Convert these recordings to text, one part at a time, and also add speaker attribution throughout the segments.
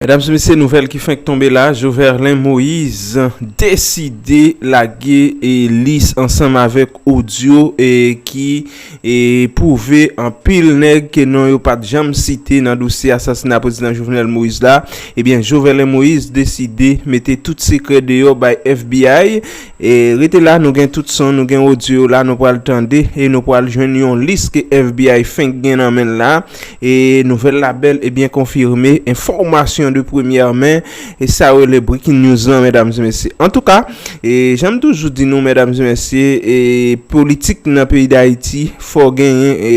Speaker 1: Medam se mesye nouvèl ki fenk tonbe la Joverlein Moise deside lage lis ansanm avèk odyo ki pwouve anpil nèg ke non yo pat janm site nan dosye asasina Prezidan Jovenel Moise la ebyen Joverlein Moise deside mete tout sekrè deyò bay FBI rete la nou gen tout son nou gen odyo la nou pral tande e nou pral jwenn yon lis ke FBI fenk gen nan menl la. E nouvèl la bèl e byen konfirme, enfòmasyon de premyè men, e sa yo le breaking news lan mèdam se mesye. An tou ka, e janm toujou di nou mèdam se mesye, e politik nan peyi d'Ayiti, fò genyen e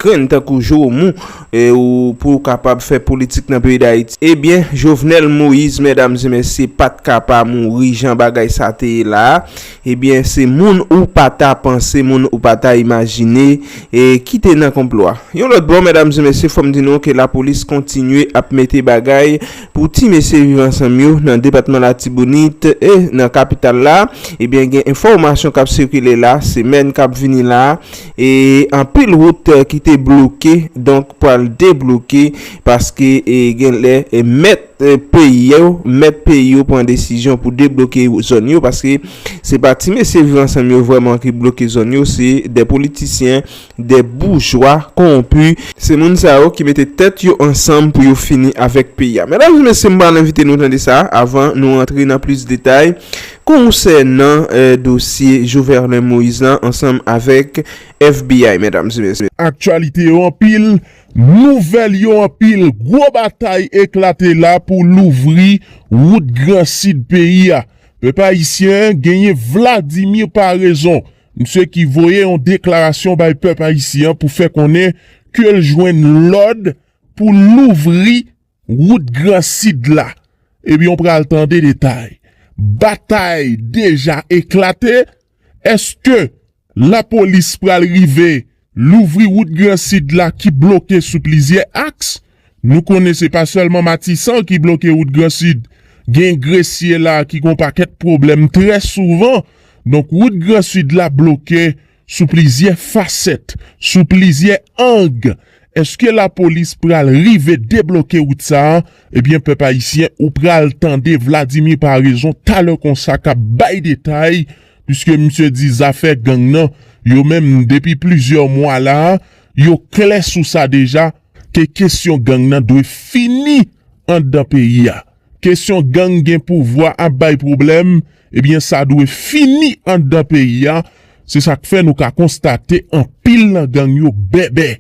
Speaker 1: grenn tankou Joumou, e ou pou ou kapab fè politik nan peyi d'Ayiti. E byen, Jovenel Moïse mèdam se mesye pat ka pa mouri jan bagay sa te ye la a. Ebyen se moun ou pa ta panse, moun ou pa ta imajine ki te nan konplo a. Yon lòt bò, medam e mesye, fò m di nou ke lapolis kontinye ap mete bagay pou ti mesye Viv Ansanm yo nan depatman Latibonit e nan kapital la. Ebyen gen enfòmasyon k ap sikile la, semèn k ap vini la a, e anpil wout ki te bloke donk pral debloke paske genlè mèt. peyi yo, mèt peyi yo pran desizyon pou debloke zòn yo paske se pa ti mesye viv ansanm yo vrèman ki bloke zòn yo se de politisyen, de boujwa konwonpi, se moun sa yo ki mete tèt yo ansanm pou yo fini avèk peyi a. Medam e mesye m pral envite nou tande sa avan nou rantre nan plis detay konsènan dosye Joverlein Moïse lan ansanm avèk FBI medam e mesye. Aktyalite yo anpil
Speaker 2: Nouvèl yo anpil, gwo batay eklate la pou louvri wout gran sid peyi a. Pèp ayisyen genyen Vladimir Paraison, msye ki voye yon deklarasyon bay pèp ayisyen pou fè konnen ke l jwenn lòd pou louvri Wout Gran Sid la, ebyen w pral tande detay. Batay deja eklate, èske lapolis pral rive louvri wout Gran Sid la ki bloke sou plizyè aks? Nou konnen se pa sèlman Matisan ki bloke wout Gran Sid, gen Gresye la ki gon pakèt pwoblèm trè souvan. Donk wout Gran Sid la bloke sou plizyè fasèt, sou plizyè ang, eske lapolis pral rive debloke wout sa a, ebyen pèp ayisyen ou pral tande Vladimir Paraison talè konsa k ap bay detay, piske misye di zafè gang nan, yo menm depi plizyè mwa la a, yo klè sou sa deja, ke kesyon gang nan dwe fini anndan peyi a. Kesyon gang gen pouvwa ap bay pwoblèm, ebyen sa dwe fini anndan peyi a, se sak fè nou ka konstate anpil nan gang yo bèbè.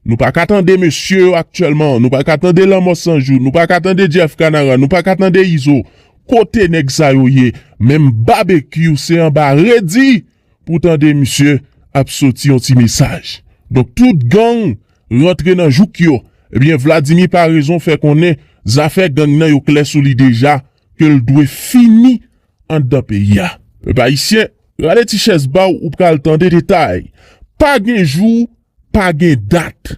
Speaker 2: Nou pa ka tande mesye yo aktyèlman, nou pa ka tande lanmò san jou, nou pa ka tande Jeff Kanara, nou pa ka tande Izo, kote nèg sa yo ye? Menm Babekyou se anba redi pou tande misye ap soti yon ti mesaj. Donk tout gang rantre nan jouk yo. Ebyen Vladimir Paraison fè konnen zafè gang nan yo klè sou li deja ke l dwe fini anndan peyi a. Pèp Ayisyen, rale ti chèz ba w ou pral tande detay. Pa gen jou, pa gen dat.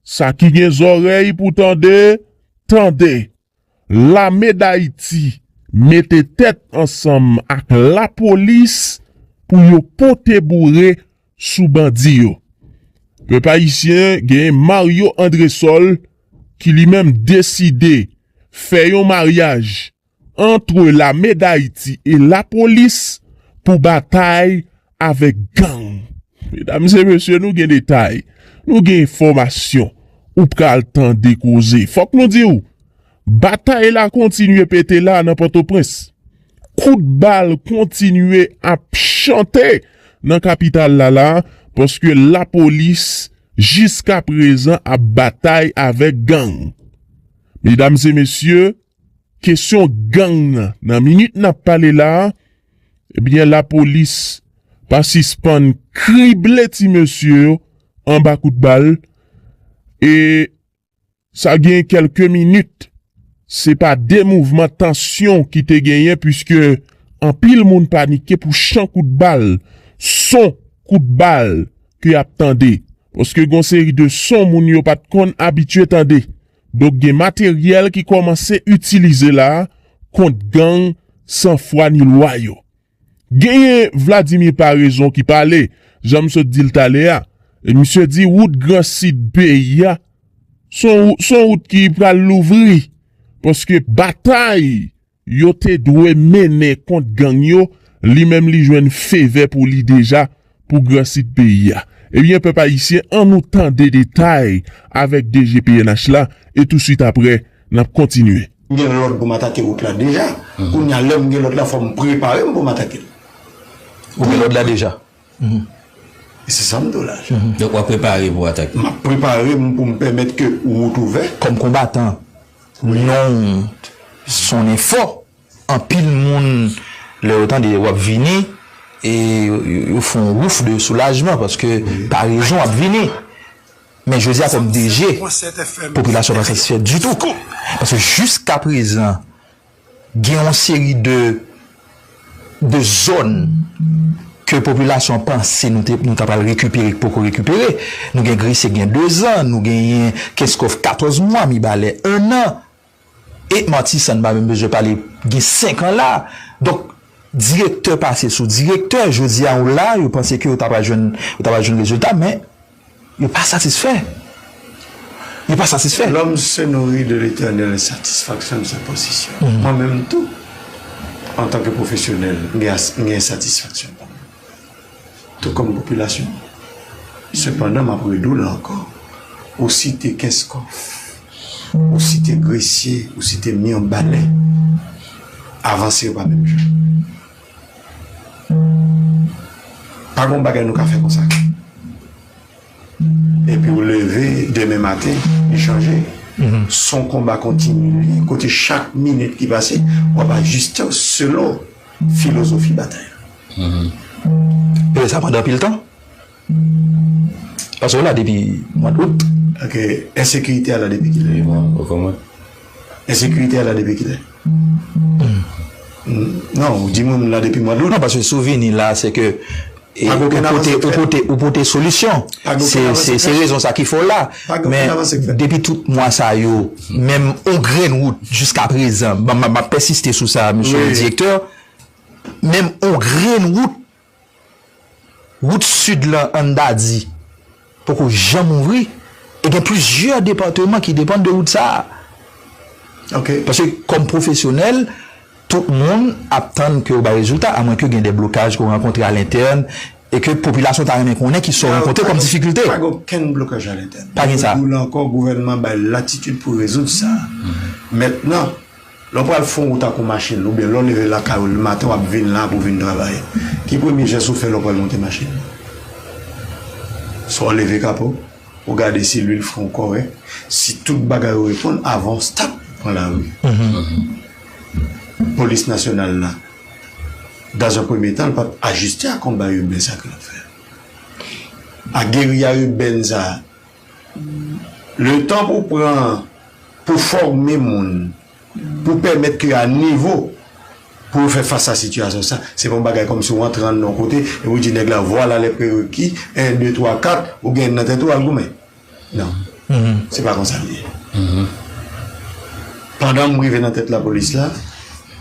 Speaker 2: Sa ki gen zòrèy pou tande, tande. Lame Dayiti mete tèt ansanm ak lapolis pou yo pote boure sou bandi yo. Pèp ayisyen gen Mario Andresol ki li menm deside fè yon maryaj antre lame Dayiti e lapolis pou batay avèk gang. Medam e mesye nou gen detay, nou gen enfòmasyon ou pral tande koze. Fòk nou di w, batay la kontinye pete la nan Pòtoprens. Kout bal kontinye ap chante nan kapital la la paske lapolis jiska prezan ap batay avèk gang. Medam e mesye, kesyon gang nan minit n ap pale la Ebyen lapolis pa sispann krible ti mesye yo anba kout bal e sa gen kelke minit se pa de mouvman tansyon ki te genyen puiske anpil moun panike pou chan kout bal, son kout bal ke yap tande. Paske gon seri de son moun yo pat konn abitye tande. Donk gen materyèl ki kòmanse itilize la kont gang san fwa ni lwa yo. Genyen Vladimir Paraison ki pale, jan m sot di l talè a, e misye di wout gran sid peyi a s on wout ki pral louvri paske batay Yo te dwe mennen kont gang yo li menm li jwenn fevè pou li deja pou gran sid peyi a. Ebyen pèp ayisyen an nou tande detay avèk DG pnh la e touswit aprè nap kontinye. M gen lòd pou m
Speaker 3: atake wout la deja. Kounya lè m gen lòd la fò m prepare m pou m atake l. Ou
Speaker 4: gen lòd la deja?
Speaker 3: E se sa m di w la. Donk w ap prepare
Speaker 4: pou atak yo? M ap prepare m
Speaker 3: pou m pèmèt ke wout ouvè. Kòm konbatan,
Speaker 4: non w sonnen fò. Anpil moun, lè yo tande w ap vini, yo fè yon wouf de soulajman paske parezon ap vini. Men jodi a kòm DG, popilasyon pa satisfè ditou. Paske jiskaprezan, Gen yon seri de de zòn ke popilasyon an panse nou te nou ta pral rekipere k poko rekipere. Nou gen Gresye k gen dezan, nou genyen Kenskòf katòz mwa, Mibalè ennan, e Matisan n pa menm bezwen pale gen senkan la. Donk direktè pase sou direktè, jodi a ou la yo panse ke yo ta pral jwenn yo ta pral jwenn rezilta men. Yo pa satisfè. Yo pa satisfè. Lòm se nouri
Speaker 3: de letènèl e satisfaksyon l se pozisyon l. Mwen menm tou, antanke pwofesyonèl, m gen ensatisfaksyon pa mwen. Tou kòm popilasyon. Sepandan, m ap redou l ankò, ou site Kenskòf, ou site Gresye, ou site Mirbalè, avanse yo pa menm jan. Pa gon bagay nou ka fè konsa. Epi ou leve demen maten, li chanje. Son konba kontinye, kote chak minit ki pase, w ap ajiste w selon filozofi batay la. Ou
Speaker 4: fè sa pandan anpil tan? Pase w la depi mwa dout. Ok,
Speaker 3: ensekirite a la depi kilè? Ui mwen, ou konn mwen?
Speaker 4: Ensekirite
Speaker 3: a la depi kilè? Non, ou di mwen m la depi mwa dout. Non, pase souvini la
Speaker 4: se ke ou pote solisyon. Se rezon sa ki fè w la. Men, depi tout mwa sa yo, menm on grenn wout jiska prezan, m ap pèsiste sou sa, msye direktè, menm on grenn wout. Wout Sid lan an Dadi poko janm ouvri e gen plizyè depatman ki depann de wout sa a.
Speaker 3: Paske kòm
Speaker 4: pwofesyonèl, tout moun ap tann ke yo bay rezilta a mwen ke gen de blokaj ke w rankontre a lentèn e ke popilasyon ta renmen konnen ki sa w rankontre kòm difikilte. Pa gen okenn blokaj
Speaker 3: a lentèn. Pa gen sa. Mwen di w la ankò,
Speaker 4: gouvènman
Speaker 3: bay latitid pou rezoud sa. Mètnan, Lè w pral fon wout ak yon machin oubyen lè w leve lakay ou le maten w ap vin la pou w vin travay, ki premye jès ou fè lè w pral monte machin nan? Swa w leve kapo, ou gade si lwil fren w kòrèk, si tout bagay yo reponn avan w start pran lari. Polis nasyonal la, dans un premier temps, li pa t ajiste a konba iben sa a ke l ap fè a. A geriya iben sa a. Le tan pou pran pou fòme moun, pou pèmèt ke a nivo pou yo fè fas a sitiyasyon sa, se pa yon bagay kòmsi ou antre anndan yon kote epi ou di nèg la vwala lè prereki, 1, 2, 3, 4, ou genyen nan tèt ou al goumen. Non. Se pa konsa li ye. Pandan m rive nan tèt lapolis la,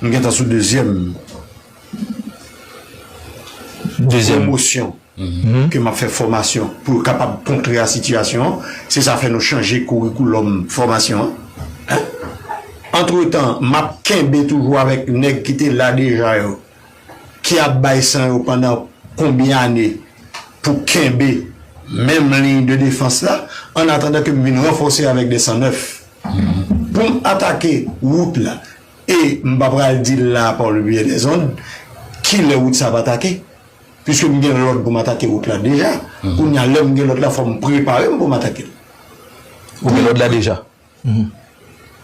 Speaker 3: m gentan sou dezyèm. Dezyèm. Pwomosyon ke m ap fè fòmasyon pou yo kapab kontre a sitiyasyon an. Se sa fè nou chanje kourikoulòm fòmasyon an. Antretan, m ap kenbe toujou avèk nèg ki te la deja yo, ki ap bay san yo pandan konbyen ane pou kenbe menm liy de defans la, annatandan ke m vin ranfòse avèk de san nèf pou m atake wout la. E m pa pral di l la par le biais des ondes ki lè wout sa ap atake, puiske m gen lòd pou m atake wout la deja. Kounye a, lè m gen lòd la, fò m prepare m pou m atake l. Ou
Speaker 4: gen lòd la deja?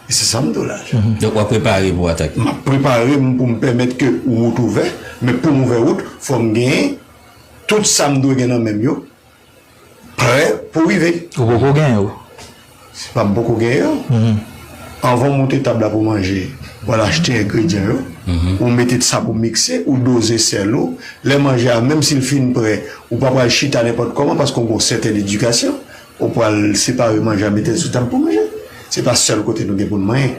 Speaker 3: E se sa m di w la. Donk w ap prepare
Speaker 4: pou w atake. M ap prepare m pou
Speaker 3: m pèmèt ke wout ouvè, men pou m ouvè wout, fò m gen tout sa m dwe gen nan men m yo Prè pou rive. Ou poko gen yo.
Speaker 4: Si pa
Speaker 3: m poko gen yo, anvan w moute tab la pou manje, w al achte engredyan yo, ou mete sa pou mikse, ou doze sèl ou. Lè manje a, menm si l fin prè, ou pa pral chita nenpòt kòman paske w gen yon sèten edikasyon. Ou pral separe manje a, mete l sou tab pou manje. Se pa sèl kote nou gen pou n manyen.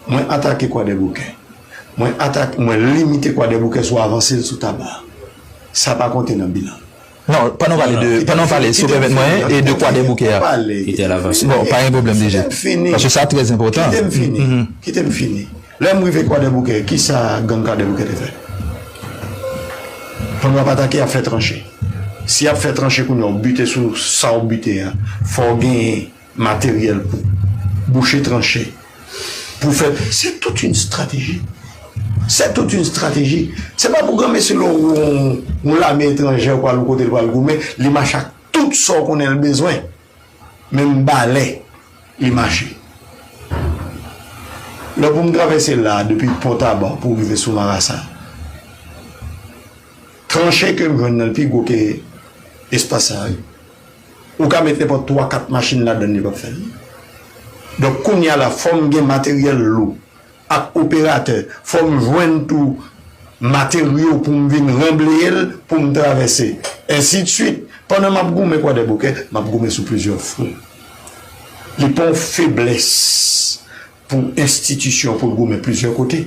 Speaker 3: Mwen atake Kwadèboukè. Mwen atake, mwen limite Kwadèboukè sou avanse l sou tab la. Sa pa konte nan bilan. Non,
Speaker 4: pandan w pale de, pandan w pale, si w pèmèt mwen, e de Kwadèboukè a. Kite l avanse.
Speaker 5: Bon, pa gen pwoblèm DG. Kite
Speaker 4: m fini. Paske sa trè enpòtan. Kite m fini. Kite m
Speaker 3: fini. Lè m rive Kwadèboukè, ki sa gang Kwadèboukè te fè? Pandan y ap atake, y ap fè tranche. Si y ap fè tranche kounye a, ou bite sou sa ou bite a, fò w genyen Materyèl pou bouche tranche, pou fè. Se tout yn strateji, se tout yn strateji. Se pa pou granmesi lè w wè yon lame etranjè pou al yon kote l pral goumen, li mache ak tout sa w konnen l bezwen. Menm balè li mache. Lè pou m travèse la a depi Pont Tabac pou rive sou Marasa, tranche ke m jwenn nan l pi gwo ke espas sa yo. Ou ka met nenpòt 3 4 machin ladann yo pap fè li. Donk kounya la fòm gen materyèl lou ak operatè, fòm jwenn tou materyo poum vin ranbleyel poum travèse ensi de suite. Pandan map goumen kwadèboukè map goumen sou plizyè fwon. Li pa yon feblès pou enstitisyon poul goumen plizyè kote.